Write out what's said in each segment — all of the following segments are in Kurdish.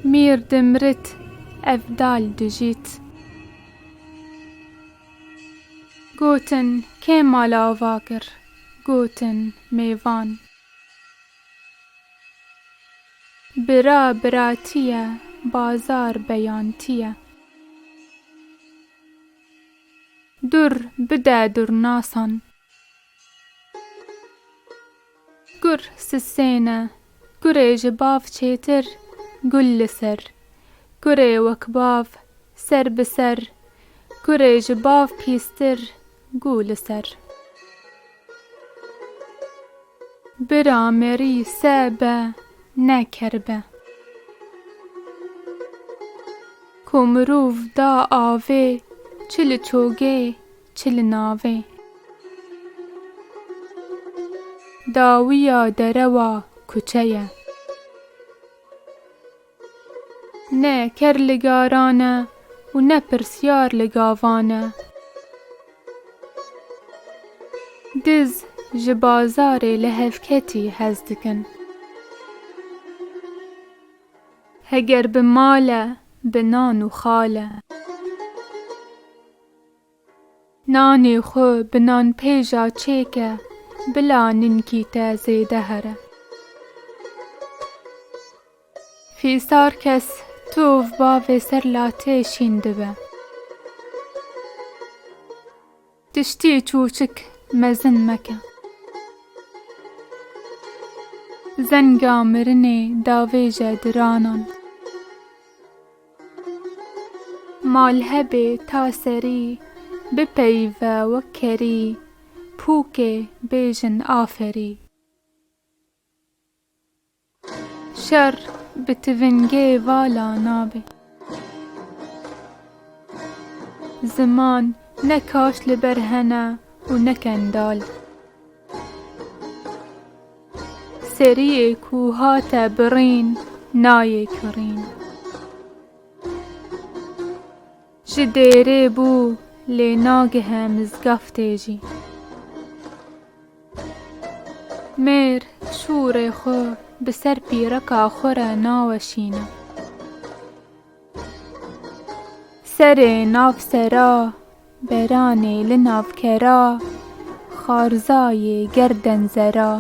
Mîr dimrit ev dal dijît. Gotin kê mala ava kir? Gotin mêvan. Bira biratîye, bazar beyantîye. Dur bide durnasan. Gur sisêne, gurê ji bav çêtir gul li ser, gurê wek bav ser bi ser, gurê ji bav pîstir gû li ser. Bira merî se be ne ker be. Ku mirov da avê çi li çogê Çi li navê. Dawiya derewa kuçe ye. Ne ker li garan e û ne pirsyar li gavan e. Diz ji bazarê li hevketî hez dikin. Heger bi mal e, bi nan û xal e. Nanê xwe bi nanpêja çêke, bila ninkî te zêde here. Fîsar kes tov bavê ser latê şîn dibe. Tiştî çûçik mezin meke. Zenga mirinê davêje diranan. Malhebê ta serî bipeyve wek kerî, pûkê bêjin aferî. Şer bi tivingê vala nabe. Ziman ne kaş li ber hene û ne kendal. Seriyê ku hate birîn nayê kirîn. Ji dêrê bû lê nagihe mizgeftê jî. Mêr şûrê xwe bi ser pîreka xwe re naweşîne. Serê nav sera, beranê li nav kera, xarzayê gerden zera.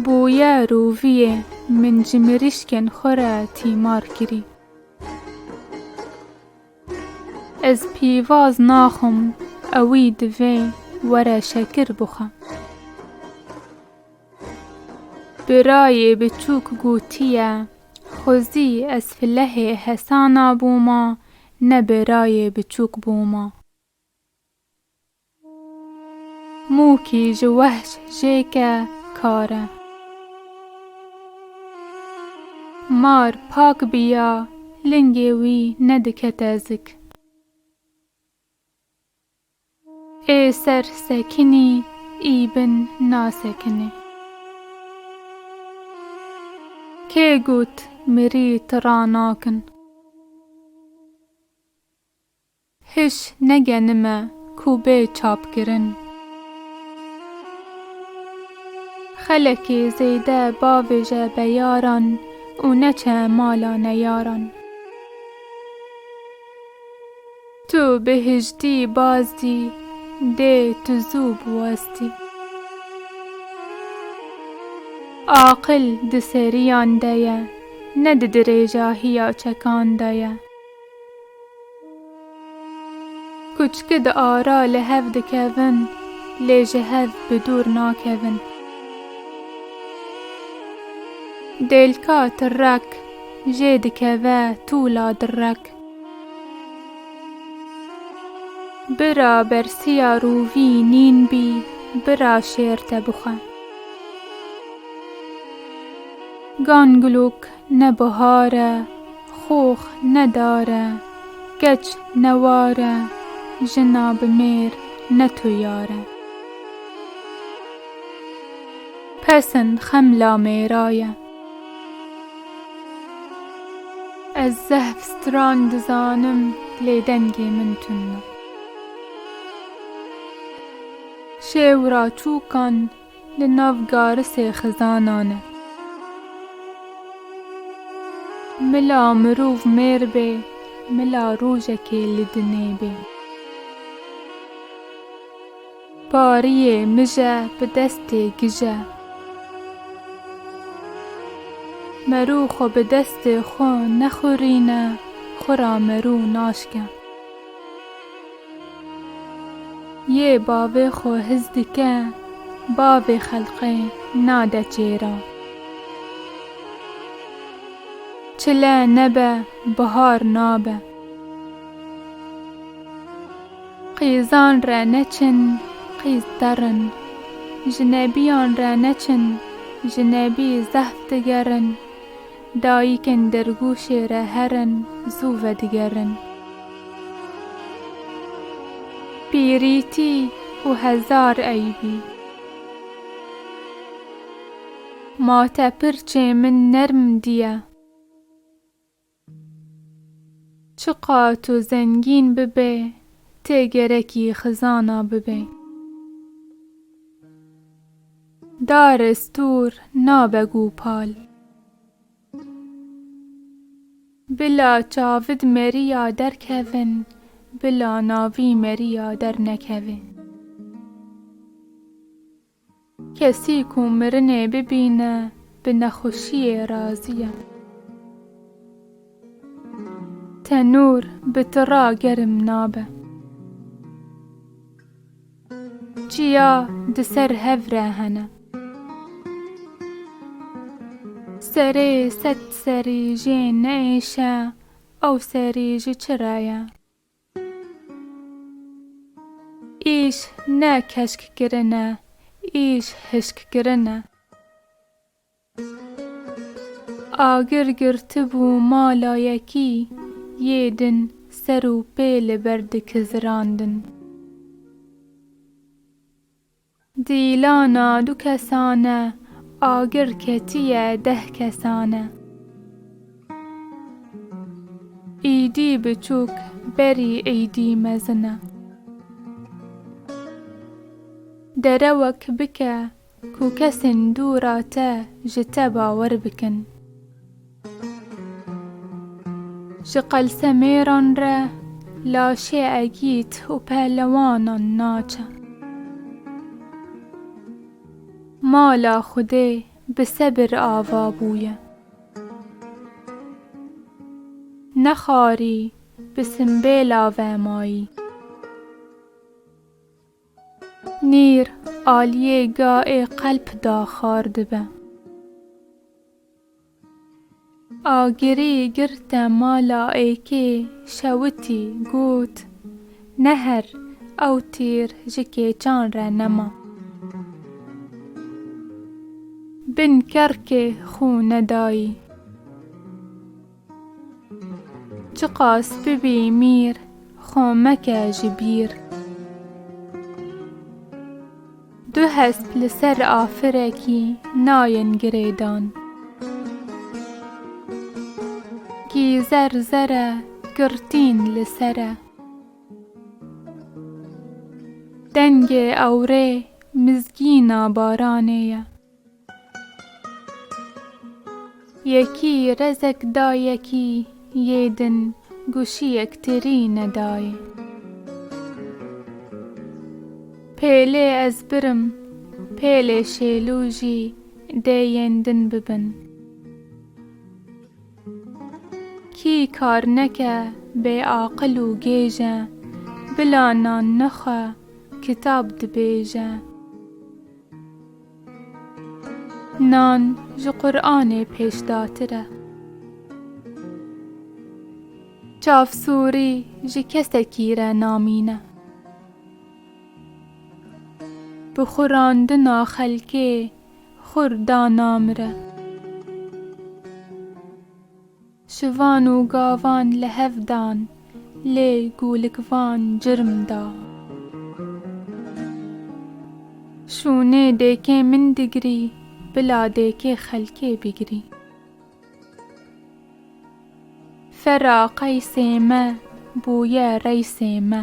Bûye roviyê min ji mirîşkên xwe re tîmar kirî. Ez pîvaz naxwim ewî divê were şekir bixwe. Birayê biçûk gotiye, Xwe zî ez filehê hesana bûma, ne birayê biçûk bûma. Mûkî ji wehş jêke kar e. Mar pak biya, lingê wî nedikete zik. Ê ser sekinî î bin nasekinê. Kê got mirî tira nakin. Hiş negenime ku bê çapkirin. Xelekê zêde bavêje beyaran û neçe mala neyaran. Tu bihiştî bazdî dê tu zû biwestî. Aqil di seriyan de ye ne di dirêjahiya çekan de ye. Kuçki di ara li hev dikevin lê ji hev bi dûr nakevin. Dêlka tirrek jê dikeve tûla dirrek. Bira bersiya rûvî nîn bî, bira şêr te bixwe. Gangilûk ne bihar e, xox ne dar e, keç ne war e, jina bi mêr ne tu yar e. Pesn xemla mêra ye. Ez zehf stran dizanim lê dengê min tund e. Şêw ra çûkan li nav garisê xizanan e. Mila mirov mêr bê, mila rojekê li dinê bê. Pariyê mije bi destê gije. Merû xwe bi destê xwe nexurîne, xwe ra merû naşke. Yê bavê xwe hiz dike, bavê xelqê nade çêra. Çile nebe bihar nabe. Qîzan re neçin, qîz derin. Jinebiyan re neçin, jinebî zehf digerin. Dayikên dirgûşê re herin, zû vedigerin. Pîrîtî û hezar eybî. Ma te pirçê min nerm dîye. Çi ka tu zengîn bibe tê gerekî xizana bibe. Dar estûr nabe gûpal. Bila çavid meriya derkevin bila navî meriya dernekeve. Kesî ku mirinê bibîne bi nexweşiyê razî ye. Tenûr bi tira germ nabe. Çiya di ser hev re hene. Serê sed serî jê neêşe ew serî ji çi re ye? Îş ne keşkkirin e, îş hişkkirin e. Agir girtibû mala yekî yê din ser û pê li ber dikizirandin. Dîlana du kesan e, agir ketiye deh kesan e. Îdî biçûk berî îdî mezin e. Derewek bike ku kesên dû ra te ji te bawer bikin. Ji qelsemêran re laşê egît û pehlewanan naçe. Mala Xwedê bi sebir ava bûye. Ne xarî bi simbêla vemayî. Nîr aliyê gaê qelp da xar dibe. Agirî girte mala êkê şewitî got, Neher, ew tîr ji kêçan re nema. Bin kerkê xû nedayî. Çiqas bibî mîr, xo meke ji bîr. Du hesp li ser afirekî nayên girêdan. Kî zer zer e, girtîn li ser e. Dengê ewrê mizgîna baranê ye. Yekî rezek da yekî yê din guşiyek tirî nedayê. Pêlê ez birim pêlê şêlû jî dê yên din bibin. Kî kar neke bê aqil û gêj e, bila nan nexwe kitab dibêje. Nan ji Quranê pêşdatir e. Çav sûrî ji kesekî re namîne. Bi xurandina xelkê xur da namire. Şivan û gavan li hev dan. Lê gûlikvan cirm da. Şûnê dêkê min digirî. Bila dêkê xelkê bigirî. Fera qeysê me bûye reysê me.